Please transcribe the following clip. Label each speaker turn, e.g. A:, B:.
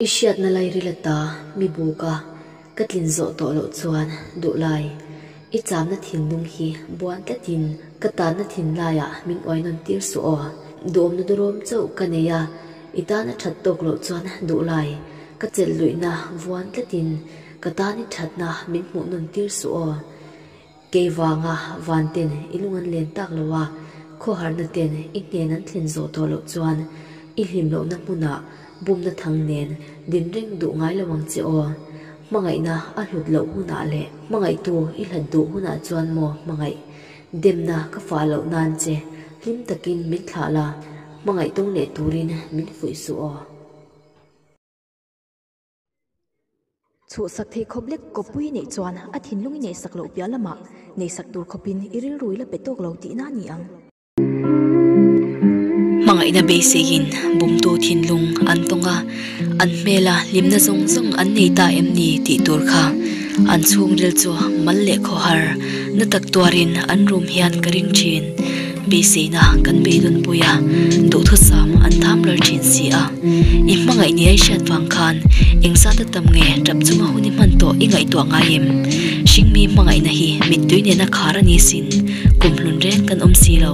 A: I hriatna lai rila ta mi buka ka tlin zawh tawh loh chuan duh lai. I chamna thinlung hi buan tlatin ka tanna thin laiah min uai nawn tir suh aw. Duhawmna duhrawm chauh ka nei a, i tan a that tawk loh chuan duh lai. Ka chelh luihna vuan tlatin ka tan i thatna min hmuh nawn tir suh aw. Kei vanga Vanten i lung an len tak lo a, khawharna ten i hnen an thlen zawh tawh loh chuan i hlim lohna hmunah bumna thang nen din reng duh ngai lo ang che aw. Hmangaihna a hlut loh hunah leh hmangaihtu i hlat duh hunah chuan maw hmangaih demna ka fah loh nan che hlim takin min thlah la, hmangaih tawng leh turin min fuih suh aw.
B: Chhuhsak thei khawp lek khawpui neih chuan a thinlung i neihsak loh piah lama neihsak tur khawpin i rilrui la pe tawk lo tihna a ni ang.
C: Hmangaihna beiseiin bumtu thinlung an tawng a, an hmela hlimna zawng zawng an nei ta em ni tih tur kha an chhungril chu mal leh khawhar na tak tuarin an rum hian ka ring thin. Beiseina kan bei dawn pawih a, duhthut sam an tham lar thin si a. I hmangaih nia i hriat vang khan engzat a tam nge tap chunga hun i hman tawh i ngaihtuah ngai em? Hring mi hmangaihna hi mittui nen a khar a ni sin kum hlun reng kan awm si lo.